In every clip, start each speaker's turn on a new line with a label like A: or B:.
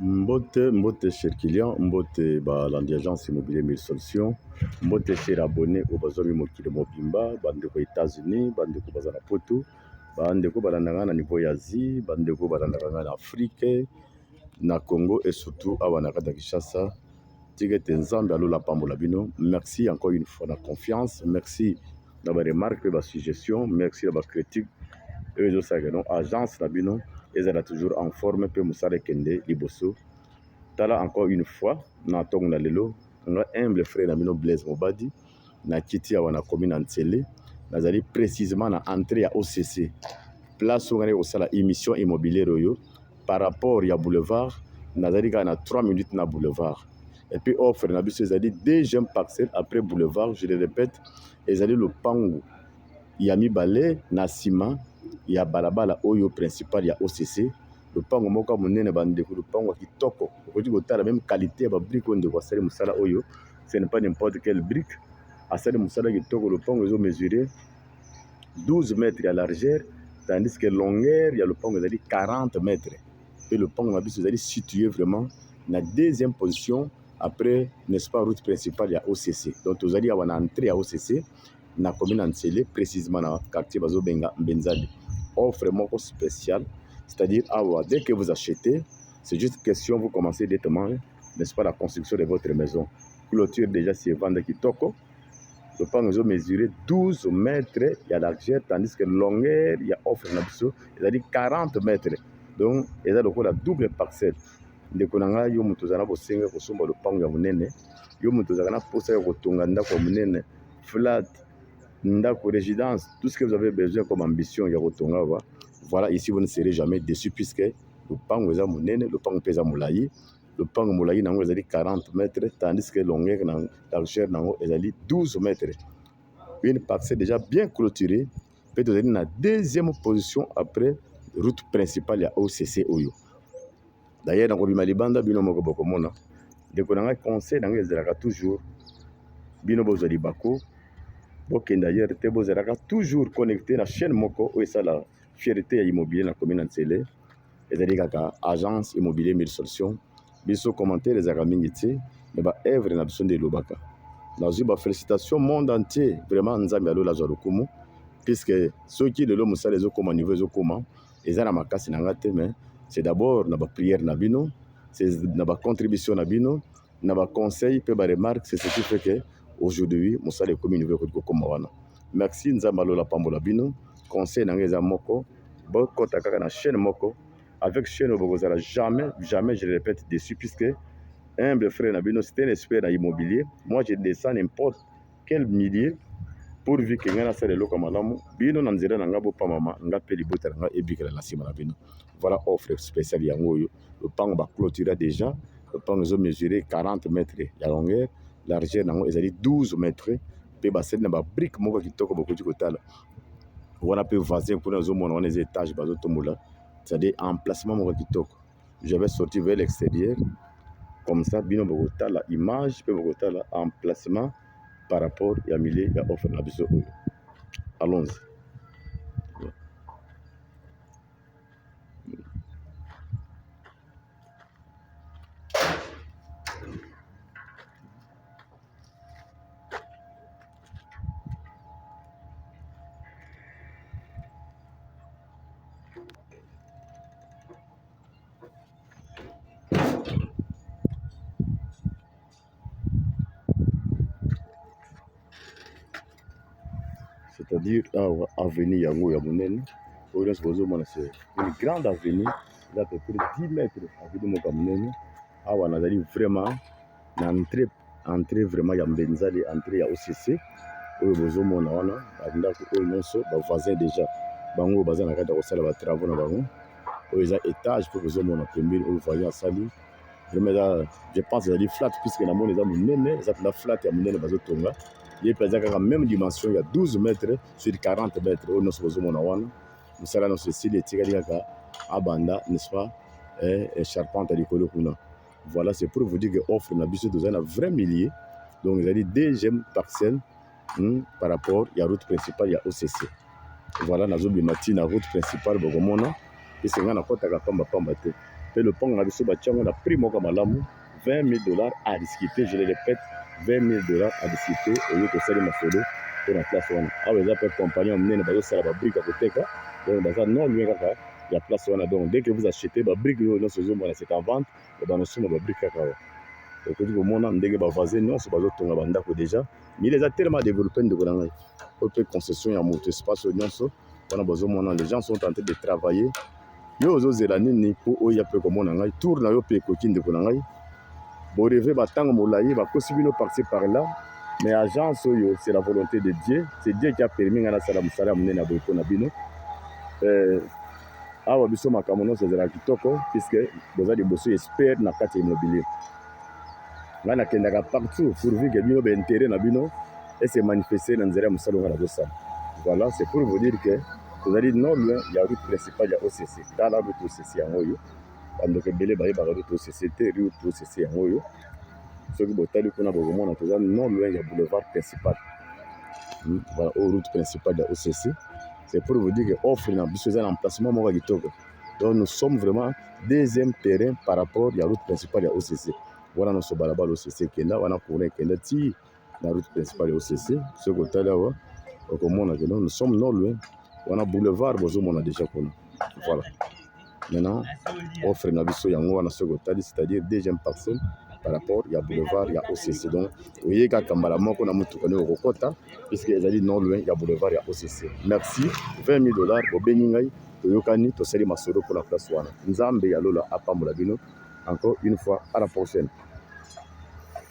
A: Mbote mbote cher client mbote ba landi agence immobilier mille solution mbote cher abonné oyo bazwami mokili mobimba bandeko ya Etats-Unis bandeko baza na poto bandeko balandaka na niveau ya Asie bandeko balandaka na Afrique na Congo et surtout awa na kati ya Kinshasa tika ete Nzambe ya lola apambola bino merci encore une fois na confiance merci na ba remarque mpe ba suggestion merci na ba critique oyo ezosalaka no agence na bino ezala toujours en forme mpe mosala ekende liboso tala encore une fois na ntongo na lelo nga humble frère na bino Blaise Mobadi na kiti awa na komi na nsele nazali precisement na entrée ya OCC place oyo ngai kosala émission immobilière oyo par rapport ya boulevard nazali kaka na 3 minutes na boulevard et puis offre na biso ezali deuxième parcelle après boulevard je le répète ezali lopangu ya mibale na nsima ya balabala oyo principal ya OCC lopango moko ya monene bandeko lopango ya kitoko okoki kotala meme qualité ya babrike oyo ndeko asali mosala oyo ce n'est pas n'importe quelle brique asali mosala kitoko lopango ezo mesure 12 mètres ya largeur tandis que longueur ya lopango ezali 40 mètres mpe lopango na biso ezali situé vraiment na deuxième position après n'est-ce pas route principale ya OCC donc tozali awa na entrée ya OCC na commune ya Nsele précisément na quartier bazobenga Mbenzali offre moko spéciale c'est-à-dire awa dès que vous achetez c'est juste question vous commencez directement n'est ce pas la construction de votre maison clôture déjà si evanda kitoko lopango ezo mesure 12 mètres ya largeur tandis que longueur ya offre na biso ezali 40 mètres donc eza lokola double parcelle ndeko na ngai yo moto ozala na bosenga kosomba lopango ya monene yo moto ozalaka na mposa ya kotonga ndako ya monene flat ndako résidence tout ce que vous avez besoin comme ambition ya kotonga ba voilà ici vous ne serez jamais déçu puisque lopango eza monene lopango mpe eza molai lopango molai na yango ezali 40 mètre tandis que longueur na largeur na yango ezali 12 mètre une parcelle déjà bien clôturée mpe tozali na deuxième position après route principale ya occ oyo d'ailleurs nakobima libanda bino moko bokomona ndeko na ngai conseil na ngai ezalaka toujours bino bozwa libako bokende ailleurs te bozalaka toujours connecté na chaîne moko oyo esala fierté ya immobilier na commune ya nsele ezali kaka agence immobilier mille solution biso commentaire ezalaka mingi te mais ba œuvre na biso nde elobaka nazwi ba félicitation monde entier vraiment nzambe ya lola azwa lokumu puisque soki lelo mosala ezokoma niveau ezokoma eza na makasi na nga te mais c'est d'abord na ba prière na bino c'est na ba contribution na bino na ba conseil mpe ba remarque c'est ce qui fait que aujourd'hui mosala ekomi niveau ekoki kokoma wana merci nzambe alola pambola bino conseil na nga eza moko bokota kaka na chaîne moko avec chaîne oyo bokozala jamais jamais je le répète dessus puisque humble frère na bino c'est un expert na immobilier moi je descends n'importe quel milieu pourvu ke ngai nasala eloko ya malamu bino na nzela na ngai bopamama ngai mpe libota na ngai ebikela na nsima na bino voilà offre spéciale yango oyo lopango baclotira déjà lopango ezo mesure 40 mètre ya longueur largeur na yango ezali 12 mètre mpe basali na babrike moko kitoko bokoki kotala wana pe voisin kuna ozomona wana eza etage bazotombola c'est-à-dire emplacement moko kitoko j'avais sorti vers l'extérieur comme ça bino bokotala image pe bokotala emplacement par rapport ya milieu ya offre na biso oyo allons c'est-à-dire awa ah, avenue yango ya monene oyo nyonso bozomona se une grande avenue eza peu près 10 mètre avenue moko ya monene awa nazali vraiment na entre entre vraiment ya mbenzali entre ya occ oyo bozomona wana bandako oyo nyonso bavoisin déjà bango baza na kati ya kosala batravau na bango oyo eza etage mpo bozomona pembeni oyo voisin asali vraiment eza je pense ezali flat puiske na moni eza monene eza mpenza flat ya monene bazotonga ye mpe aza kaka meme dimension ya 12 mètre sur 40 mètre oyo nyonso bozomona wana mosala nyonso esili etikali kaka abanda n'est ce pas eh, eh, charpente ya likolo kuna Voilà, c'est pour vous dire que offre na biso tozali na vrai milieu. Donc ezali deuxième parcelle hmm, par rapport ya route principale ya OCC. Voilà, nazobima ti na route principale bokomona ese ngai nakɔtaka pamba pamba te. Mpe lopango na biso batya yango na prix moko malamu 20 000 dollars à discuter, je le répète 20 000 dollars à discuter oyo tosali masolo mpo na place wana. Awa eza mpe compagnie ya monene bazosala babrike ya koteka, donc baza non loin kaka ya place wana donc dès que vous achetez ba briques oyo nyonso ezomona c'est en vente et bana suma ba briques kaka awa okoki komona ndenge ba voisins nyonso bazotonga ba ndako déjà mais eza tellement développé ndeko na ngai oyo mpe concession ya moto espace oyo nyonso wana bazomona les gens sont en train de travailler yo ozozela nini mpo oya mpe komona ngai tour na yo mpe ekoki ndeko na ngai boreve batango molai bakosi bino parti par là mais agence oyo c'est la volonté de dieu c'est dieu qui a permis ngai nasala mosala ya monene ya boye mpo na bino euh, awa biso makambo nyonso ezalaka kitoko puisque boza liboso espere na kati ya immobilier ngai nakendaka partout pourvu ke bino baintérêt na bino ese manifeste na nzela ya mosala ngai nazosala voilà c'est pour vous dire que tozali noble ya route principale ya occ tala route occ yango oyo bandeko ebele bayebaka te tosese te riu tosese yango oyo soki botali kuna bokomona toza non loin ya boulevard principal hmm, voilà oyo route principale ya occ c'est pour vous dire que offre na biso eza na emplacement moko ya kitoko donc nous sommes vraiment deuxième terrain par rapport ya route principale ya occ wana nyonso balabala occ ekenda wana courant ekenda ti na route principale ya OCC soki otali awa okomona que nous sommes non loin wana boulevard bozomona déjà kuna voilà maintenant offre na biso yango wana soki otali c'est-à-dire deuxième parcelle par rapport ya boulevard ya OCC donc oyei kaka mbala moko na motuka nde okokɔta puisque ezali non loin ya boulevard ya OCC merci 20 000 dollars bobengi ngai toyokani tosali masolo mpo na place wana nzambe ya lola apambola bino encore une fois à la prochaine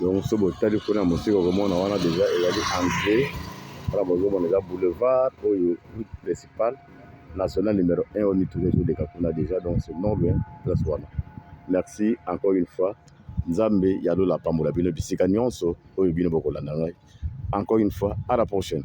A: donc so botali kuna mosika okomona wana deja ezali entré wana bozomona eza boulevard oyo route principale national numero 1 oyo mituka ezoleka kuna deja donc c'est non loin place wana merci encore une fois nzambe ya lola apambola bino bisika nyonso oyo bino bokolanda ngai encore une fois à la prochaine